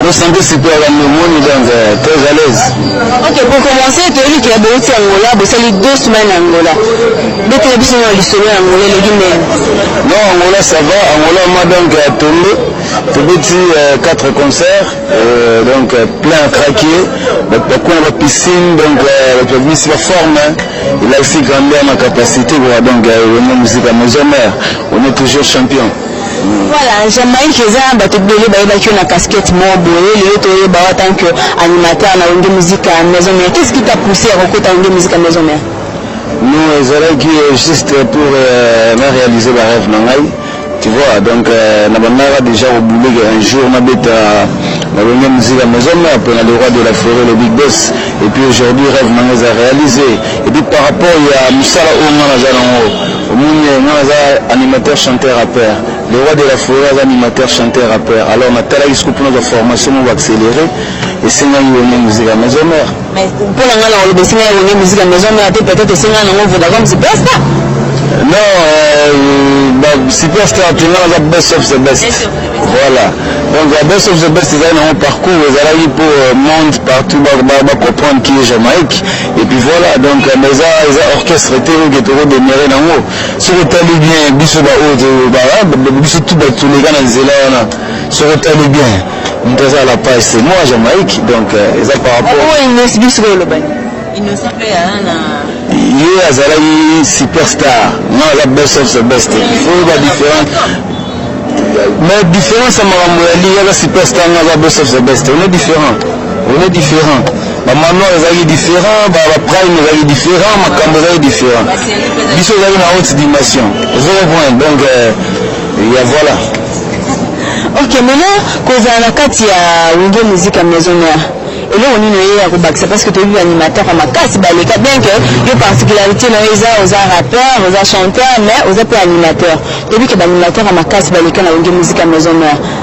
Bo santé sikoyo ya pneumonie donc euh, très à l'aise. Ok, pour commencer, toyebi ke bouti Angola, bosali deux semaines Angola. Betela biso na lisolo ya Angola eleki ndenge. Non, Angola ça va, Angola moi donc à Tondo, tobeti euh, quatre concerts, euh, donc euh, plein à craquer, donc bakuna ba piscine, donc euh, bato babimisi ba forme, il a aussi grandi à ma capacité, voilà, donc euh, on est musique à maison mère, on est toujours champion. Voilà, Jamaïque eza bato ebele bayebaki yo na casquette moko boye, lelo toyeba yo en tant que animateur na Wenge Musique ya Maison Mère. Qu'est-ce qui t'a poussé à kokota Wenge Musique ya Maison Mère? Non, ezalaki euh, juste pour euh, na réaliser ba rêve na ngai. Tu vois, donc euh, na bandaka déjà koboule que un jour na beta na Wenge Musique ya Maison Mère pona le roi de la forêt le Big Boss. Et puis aujourd'hui rêve na ngai eza réalisé. Et puis par rapport ya musala oyo ngai naza nango Omoni eh, nga naza animateur chanteur rapper le roi de la foret aza animateur chanteur rapper alors natalaki sikoyo mpo nazwa formation moko accéléré esengaki wenge musika maison mère Mais mpo na ngai na koloba esengaki wenge musika maison mère te peut-être esengaki nango vodacom sipesta non euh, superstar te nga naza best of the best voilà donc la best of the best ezali nango parcours ezalaki mpo euh, monde partout bacomprendre qui est jamaïque Et puis voilà, donc mais eza eza orchestre te oyo toko demeurer nango. Soki otali bien biso ba oyo ba biso tout ba tuleka na nzela wana. Soki otali bien moto aza la page c'est moi Jamaïque donc euh, eza par rapport. Oyo Inès biso ko loba. Innocent pe ya na ye azalaki superstar nga aza best of the best oyo ba différence mais différence ya makambo ya liya aza superstar nga aza best of the best on est différent on est différent ba manoir ezalaki différent ba ba prime ezalaki différent makambo ezalaki différent biso ezalaki na haute dimension ozo comprendre donc euh, ya voilà ok maintenant kozala na kati ya wenge musique ya maison mère eloko nini oye ya kobakisa parce que toyebi baanimateur ya makasi baleka bien que yo particularité na yo eza oza rappeur oza chanteur mais oza mpe animateur toyebi ke baanimateur ya makasi baleka na wenge musique ya maison mère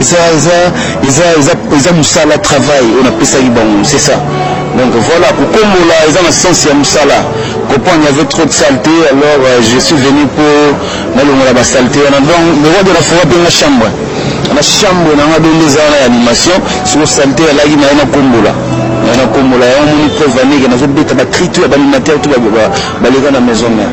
eza eza eza eza eza musala travail oyo napesaki bango c'est ça donc voilà kokombola eza na sens ya mosala comprendre avait trop de saleté alors euh, je suis venu mpo nalongola basalete wana donc mewade nafonga mpe nga chambre na chambre nanga donde eza wana ya animation soko salete alaki naye nakombola naye nakombola yango moni preuve aneke nazobeta bacri to ya baanimateur to baleka na maison mère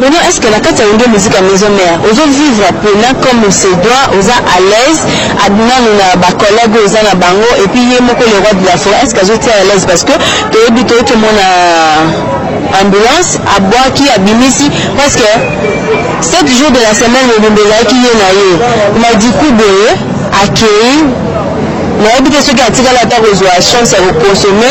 Maintenant est-ce que na kati ya wenge musique ya maison mère ozo vivre pena comme on se doit oza à l'aise adinano na ba collègues oyo oza na bango et puis ye moko le roi de la forêt est-ce que azo tia à l'aise parce que toyebi toyei tomona ambulance abwaki abimisi parce que 7 jours de la semaine mobimba ezalaki ye na ye mais du coup boye akeyi nayebi te soki atikali ata kozwa chance ya kokonsome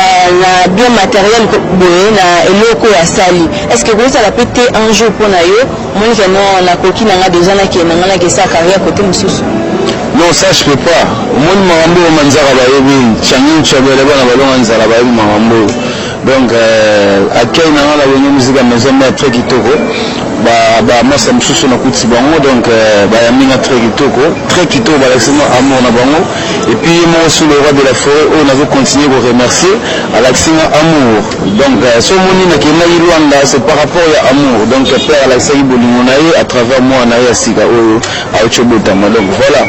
euh, na bien materiel boye na eloko oyo asali estce ekozala mpe te un jour mpo na yo omoni keno nakoki na nga deja nakende na nga nakesa carrière kote mosusu non ça je peux pas omoni makambo oyo manzaka bayebi changi nchabele bana balonga nzala bayebi makambo oyo Donc euh, accueil na nga na wenge musique ya maison mère très kitoko ba ba masa mosusu na kuti bango donc euh, ba yambi nga très kitoko très kitoko ba lakisi nga amour na bango et puis ye moko sous le roi de la forêt oyo nazo continuer ko remercier alakisi nga amour donc euh, so moni na kendaki Luanda c'est par rapport ya amour donc euh, père alakisaki bolingo na ye à travers moi na ye ya sika oyo Aucho botama donc voilà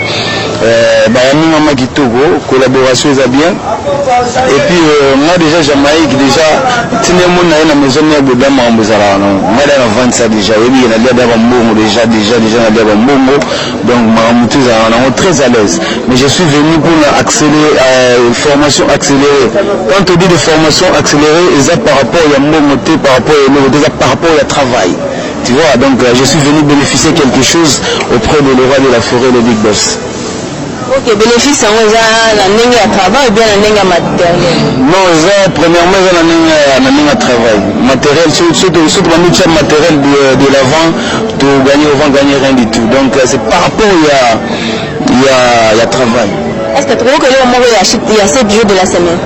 euh, bayaminga ma kitoko collaboration eza bien et puis euh, moi déjà jamaïque déjà ntinde moni na ye na maison mère boda makambo ezalaka nango ngai da navandisa déjà oyebike nalia da bambongo déjà déjà déjà nalia bambongo donc makambo te ezalaka nango très à l'aise mais je suis venu pour na accélérer euh, formation accélérée quand on dit de formation accélérée eza par rapport ya mbongo te par rapport ya eloko te eza par rapport ya travail Tu vois donc je suis venu beneficier quelque chose auprès de le roi de la forêt le big boss. Ok, bénéfice yango eza na ndenge ya travail ou bien na ndenge ya matériel? Non, eza premièrement eza na ndenge ya na ndenge ya travail. Matériel surtout surtout surtout ba mutuel matériel de, de l'avant to gagner au vent gagner rien du tout. Donc c'est par rapport ya ya ya travail. Est-ce que tu crois que le moment ya ya 7 jours de la semaine?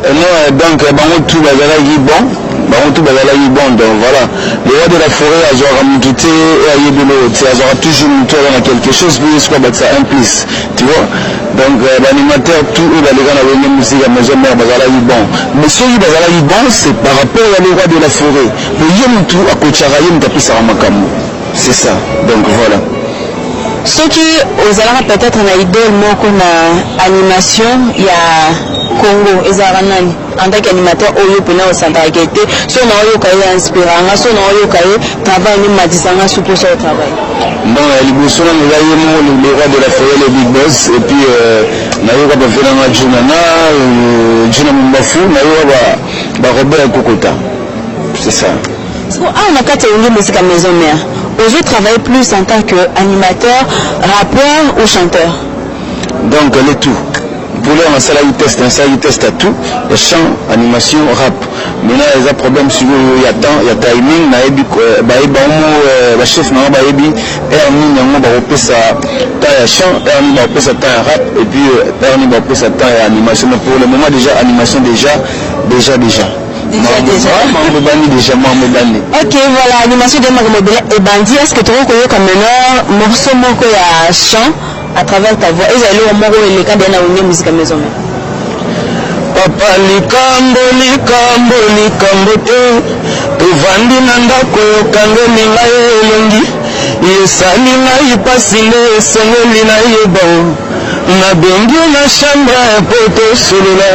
Et non eh, donc eh, bango tout bazalaki bon bango tout bazalaki bon donc voilà le roi de la forêt azwaka motu te e ayebi eloko te azwaka toujours motu aza na quelque chose mpe yesu abakisa un plus tu vois donc euh, baanimateur tout oyo baleka na wenge musike ya maison mare bazalaki bon mais soki bazalaki bon c'est par rapport ya le roi de la forêt po ye motu akotshaka ye motu apesaka makambo C'est ça. Donc voilà. soki ozalaka peut-être na idole moko na animation ya congo ezalaka nani en tant qu'animateur oyo mpena osantaka ke te so na oyoka ye inspiranga so na oyoka ye travail nde matisanga su mposa yo travail bon ya liboso nanga eza ye moko le roi de la forêt le big boss et puis euh, nayoka bavenanga juna na euh, juna mombafu nayoka barobert kokota c'est ça Sikoyo awa na kati ya Wenge Musica Maison Mère, ozo travailler plus en tant que animateur, rappeur ou chanteur? Donc le tout. Pour l'heure nasalaki test, nasalaki test ya tout, ya chant, animation, rap. Maintenant eza problème sikoyo ya temps, ya timing, nayebi euh, bayebi bango euh, ba chef na bango bayebi heure nini yango bakopesa temps ya chant, heure nini bakopesa temps ya rap et puis euh, heure nini bakopesa temps ya animation. Mais pour le moment déjà animation déjà déjà déjà Déjà, déjà. Ah, mambo ebandi déjà mambo ebandi Ok, voilà, animation de Mago Mobile et Bandi. Est-ce que tu as connu comme maintenant morceau moko ya chant à travers ta voix Ils allaient au moro et les cas bien à une musique à maison. papa likambo likambo likambo te tovandi na ndako yokangeli ngai elongi esali ngai mpasi nde esengeli nayeba Na bengi yo na chambre po to solola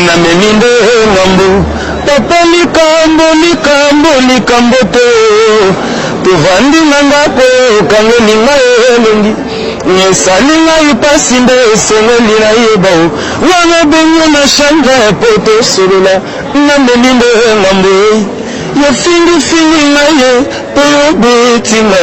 na memi nde ngambu papa likambo likambo likambo te tovandi na ndako okangeli ngai elongi esali ngai mpasi nde esengeli nayeba o wana bengi na chambre po tosolola na meli nde ngambo ye fingifingi na ye mpe obetinga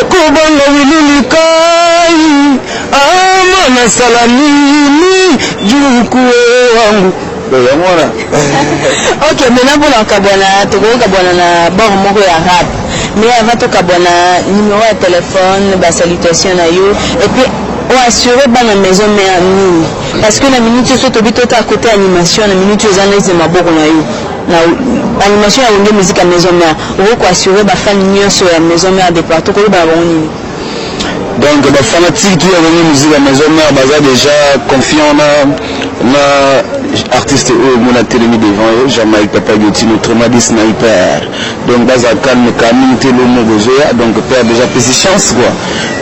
Ekobanga wili likayi ama na sala nini juku wangu yango wana ok mena mpona kokabwana tokoki kokabwana na bor moko ya rap mais avant tokabwana numero ya telefone basalutation na yo epuis oassure bana maison mare nini parce que na minute oso tobi tota kote animation na minute oza neze maboko na yo Na animation ya wenge musique ya maison mère, okoki ko assurer ba fans nionso ya maison mère de partout, ko loba na bango nini? Donc ba fanatiques tout ya wenge musique ya maison mère baza dejà confiant na na artiste oyo oh, mona telemi devant ye jamaïque papa gotino tremadi sniper donc baza calme kala mingi te lomo bozoya donc père déjà pesi chance quoi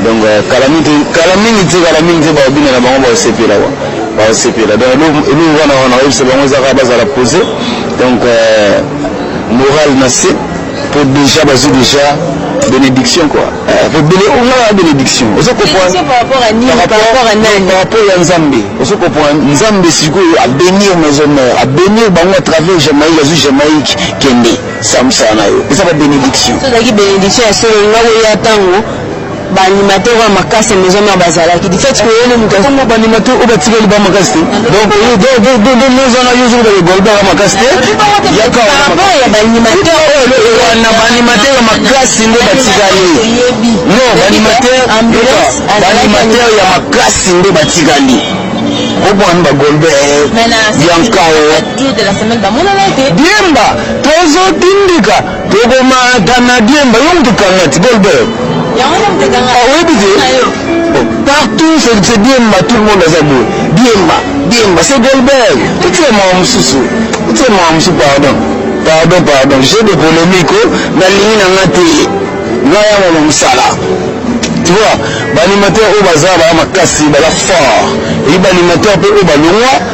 donc euh, kala mingi te kala mingi te kala mingi te baobina na bango baosepela quoi basepela donc eloko wana wana oyebisa bango eza kaka bazala pose donc euh, morale na se mpo déjà bazwi déjà bénédiction quoi ebele eh, ongaa bénédiction ozo comprendreparapport ya nzambe ozo comprendre nzambe sikoyo abénir maison mère abénir bango à travers jamaïque azwi jamaïque kende samsana yo eza ba bénédiction ozalaki bénédiction ya solo nga koya ntango ba animateur oyo makasi ya maison mère bazalaki du fait que ye nde moto yango ba animateur oyo batikeli ba makasi te donc ye de de de de maison na yo zoba egol ba makasi te ya ka par rapport ya ba animateur oyo wana ba animateur makasi nde batikali non ba animateur ba animateur ya makasi nde batikali obwani bagolbe yankawo diemba tozotindika Tokoma canadien ba yo mutu kangati Goldberg. Yango nde mutu ekanga. Ah, oyebi te? Partout c'est Diemba tout le monde aza boye. Diemba, Diemba c'est Goldberg. Otie mawa mosusu. Otie mawa mosusu pardon. Pardon pardon. J'ai des polemiques oh. nalingi na nga te. Nga ya mama mosala. Tu vois, ba animateur oyo baza ba makasi, baza fort. Et ba animateur pe oyo balongwa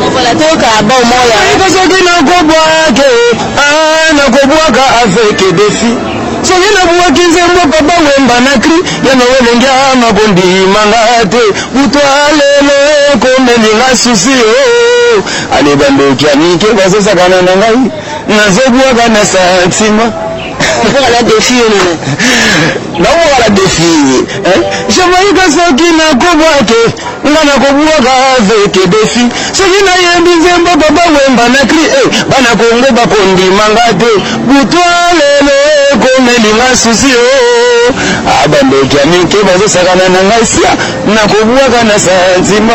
Longola toyoka album oyo. Nakoyika soki nakobwake ah nakobwaka avec defi soki nabwaki nzembo papa wemba na cri ya nowelengia makondima nga te butwa lelo ekomeli nga susi o oh. ale bandoki ya mike bazosakana na ngai nazobwaka na santima Okoka la defi yo nene. Nakoka la defi. Hein? Je voyais que ça qui n'a combattu. nga nakobwaka aveke defi soki nayembi nzembo baba wemba na kri e eh, bana kongo bakondima nga te butwa lelo ekomeli nga susi o abandeki ya mike bazosakana na ngai sia nakobwaka na santima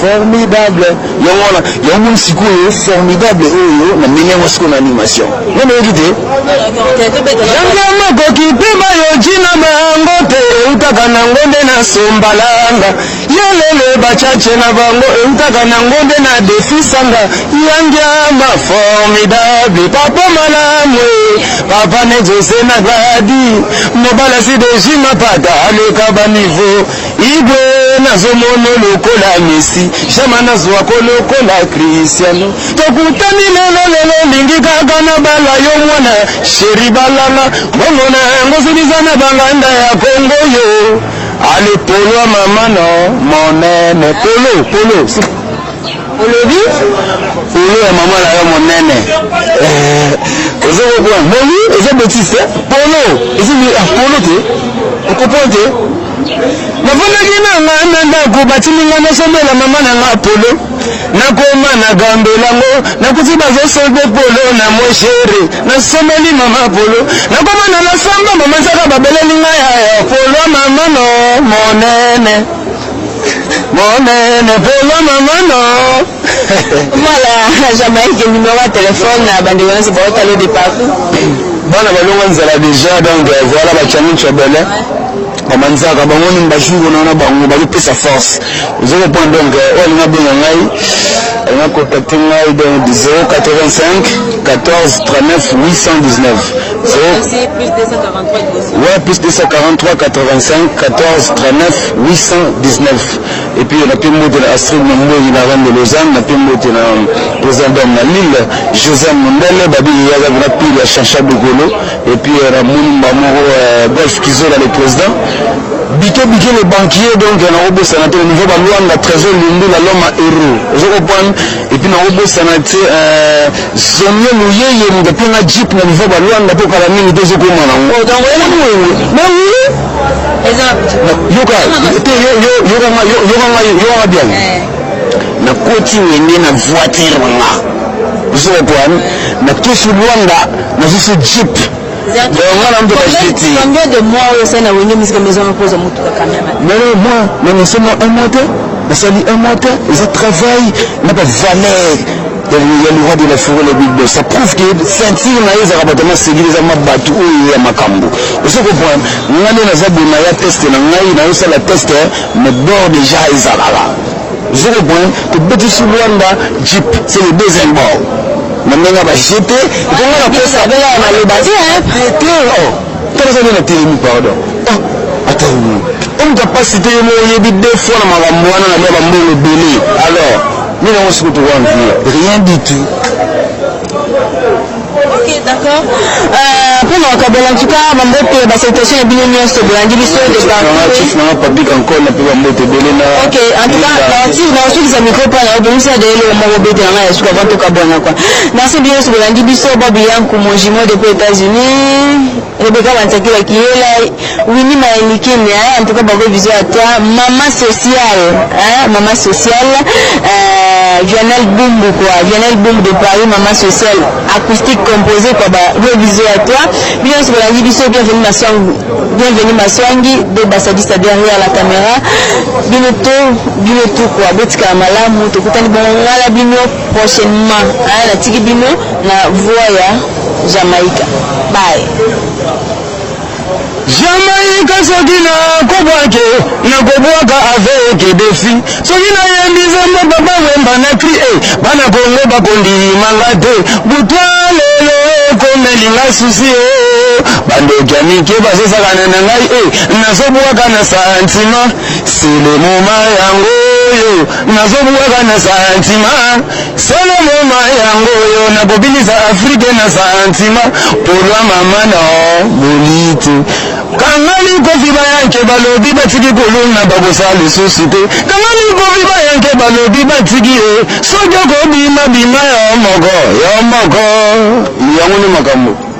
Formidable yango wana yango moni sikoyo formidable oyo na ndenge yango sikoyo na animation ngo nayoki te yango makoki mpe bayoki na bango te eutaka na ngombe na sombalanga yelele bacace na bango eutaka na ngombe na defisanga yangiama formidable papa malamu e. papa ne jose na gladi mobala si dejima pata aleka baniveau Igwe nazo mono lokola Messi, Jama nazo ako lokola Cristiano. Tokutani lelo lelo lingi kaka na bala yo mwana sheri balanga bongo na yango ziliza na banganda ya Kongo yo. Ale polo ya mama no monene polo polo olobi polo ya mama na yo monene eh, ozo kokona bongi eza betise polo eza ah, polo te okopon te Nafandaki na ngai na ndako, batindi ngai nasombela mama na ngai polo. Nakoma na gambela ngo, nakuti bazosombe polo na moshere. Nasombeli mama polo, nakoma na lasamba, mama nsaka babeleli ngai yaya polo mama no monene monene polo mama no Voilà, Jamaïque, numéro ya telefone na bandeko nyonso baotala yo de partout. bana balonga nzala deja donc euh, voilà bacaminco bele mama nzaka bango nini bajour wana na bango bazopesa force ozo comprendre donc euh, oyo alinga benga ngai alinga contacte ngai donc 085 14 39 819 Ouais, plus 243 85 14 39 819 et puis na pembo de la Astrid Mamboyi na Rome de Lausanne na pembo de la président na Lille Joseph Mundele babi yaza na pile ya Chacha Dugolo Et puis euh, namoni mbala moko euh, golf kizola le président bike bike le banquier donc euh, nakobosana te na niveau baluanda trésor lundula l'homme à héros ozo comprendre et puis nakobosana te zomie luyeye moto mpe nga jeep na niveau baluanda mpo kala mingi te ezokoma nango oh, yokanga bien eh. nakoti wenge na voiture nga Zero point. Na kisi Luanda, na zisi jeep. Combien de mois oyo osali na wenge musika maison moko oza motuka kameme nalo moi na nasala un mois te nasali un mois te eza travail na bavaleur ya loi de la forêt le big boss ça prouve que ceinture na ye ezalaka bato masegili eza mabatu oyo ya makambo ozo comprendre ngai nde naza bonaya teste na ngai nayosala teste mais bord déjà ezalaka Zero point, tobetisi Luanda Jeep, c'est le deuxième bord. Na ndenge ya bajete, etonga na kosa. Abela ya maloba te, hein? Te, te, oh. Tala zali na telemi, pardon. Oh, ata umu. Omu kapasi te yemo oyebi deux fois na makambo wana na bia bambongo ebele. Alors, mina osi kutu wana, rien du tout. Ok, d'accord. Euh, mpo na kokabela en tout cas bambote ba salutation na bino nyonso bolandi biso de Nanga partout. chief nanga papi kankol na pe bambote ebele na Ok, en tout cas, naosi- naosukisa micro mpo na obimisa de eloko moko bete na ngai ya suka avant tokabwana kua. Merci bino nyonso bolandi biso, Bob Yanku, mon jumeau depuis États-Unis. Rebecca Manchakila Kiyela, Winnie Mayelikine, hein, en tout cas, bravo, bisous à toi. Maman sociale, hein, maman sociale, euh, Vianel Bumbu, quoi, Vianel Bumbu de Paris, maman sociale, acoustique composée, quoi, bah, gros bisous à toi. Bien, c'est la vie, bisous, bienvenue, ma soeur, bienvenue, ma soeur, de Bassadista derrière la caméra. Bino tout, bino tout, quoi, botika malamu, tokutani, bon, ngala bino, prochainement, hein, la tiki bino, na voya, Jamaica bye. Jamaïque soki na kobwake na kobwaka avec defi soki na yembi nzembo papa wemba na cri e eh, bana kongo bakondima nga te butwa lelo ekomeli nga susi e eh. bandoki ya mike bazosakana na ngai e eh, nazobwaka na santima selemoma yango oyo nazobwaka na santima Solo mema yango oyo na bobini za Afrique na santima polwa mama na boliti kangani kofi bayanke balobi batiki kuluna bakosala lisusu te kangani kofi bayanke balobi batiki ye soki okobima bima yo moko yo moko yango nde makambo